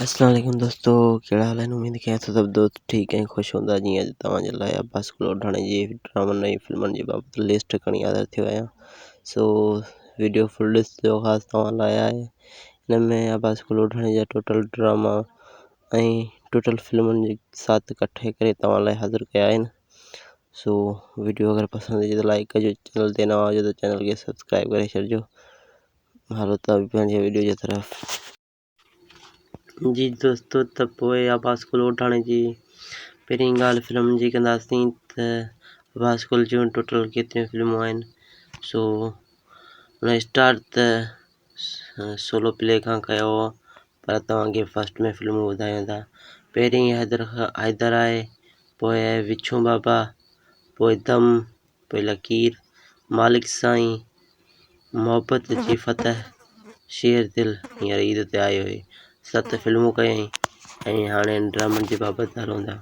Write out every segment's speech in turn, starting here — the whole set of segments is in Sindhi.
السلام عليڪم دوستو ڪهڙا حال آهن اميد ڪيان ٿو سڀ دوست ٺيڪ ۽ خوش هوندا جيئن اڄ توهان جي لاء عباس ڪلوڙاڻي جي ڊرامن ۽ فلمن جي بابت لسٽ کڻي حاضر ٿيو آهيان سو ويڊيو فل ڏسجو خاص توهان لاء آهي هن ۾ عباس ڪلوڙاڻي جا ٽوٽل ڊراما ۽ ٽوٽل فلمن جي ساٿ ڪٺي ڪري توهان لاء حاضر ڪيا آهن سو ويڊيو اگر پسند اچي ته لائڪ ڪجو چينل تي نوان هجو ته چينل کي سبسڪرائب ڪري ڇڏجو هلو ته پنهنجي ويڊيو جي طرف جي دوستو ته پوء عباس گل اوڍاڻي جي پهرين ڳالهه فلمن جي ڪنداسين ته عباس گل جون ٽوٽل ڪيتريون فلمون آهن سو ان اسٽار ته سولو پلي کان ڪيو هو پر توهان کي فسٽ ۾ فلمون ٻڌايون ٿا پهرين حيدر حيدر آهي پوء آهي وڇون بابا پوء دم پي لڪير، مالڪ سائين محبت جي فتح، شير دل هينئر عيد تي آيو هي، ست فلمون ڪيائين ۽ هاڻي هن ڊرامن جي بابت نه روندا.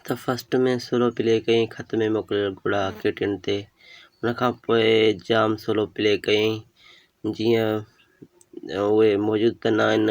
ته فرسٽ ۾ سولو پلي ڪيائين خط ۾ موڪليل گهوڙا ڪي ٽن تي، ان کان پوء جام سولو پلي ڪيائين جيئن اهي موجود ته نه آهن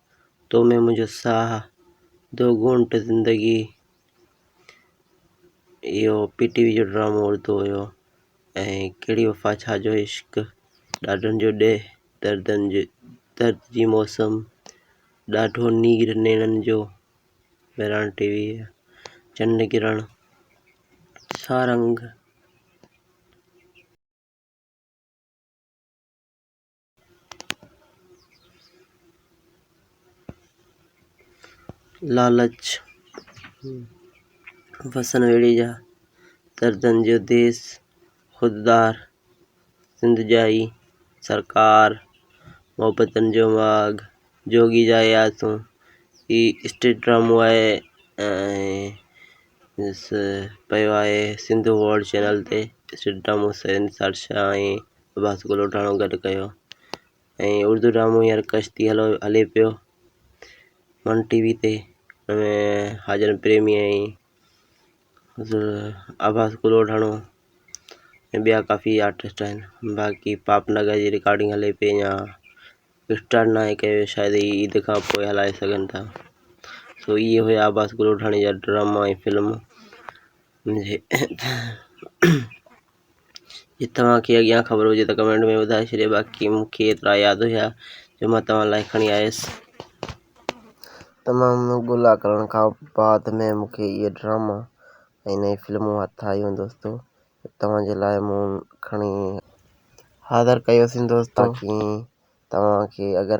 تو ۾ منهنجو ساهه دو گهونٽ زندگي اهو پي ٽي وي جو ڊرامو اردو هيو ۽ ڪهڙي وفا ڇا جو عشق ڏاڍن جو ڏيهه دردن جو درد جي موسم ڏاڍو نير نيڻن جو مهراڻ ٽي وي چنڊ ڪرڻ سارنگ لالچ وسن ويڙهي جا، دردن جو ديس خوددار سنڌ جا ئي سرڪار، محبتن جو ماڳ جوڳي جا ئي آسون، هي اسٽيج ڊرامو آهي ۽ ڏس پيو آهي سنڌو ورلڊ چينل تي اسٽيج ڊرامو سيد نثار شاهه ۽ عباس ڳلوٽاڻو گڏ ڪيو ۽ اردو ڊرامو هينئر ڪشتي هلو هلي پيو من ٽي وي تي ان ۾ حاجن پريمي ۽ عباس ڳلوٽاڻو ۽ ٻيا ڪافي آرٽسٽ آهن باقي پاپ نگر جي رڪارڊنگ هلي پئي اڃا اسٽارٽ ناهي ڪئي وئي شايدي هي عيد کان پوء هلائي سگهن ٿا سو اهي هيا عباس ڳلوٽاڻي جا ڊراما ۽ فلم جي توهان کي اڳيان خبر هجي ته ڪمينٽ ۾ ٻڌائي ڇڏيو باقي مون کي ايترا ياد هيا جو مان توهان لاء کڻي آيس. تمام ڳولا ڪرڻ کان بعد ۾ مون کي اهي ڊراما ۽ نئين فلمون هٿ آيون دوستو جو توهان جي لاء مون کڻي حاضر ڪيو سين دوستو باقي توهان کي اگر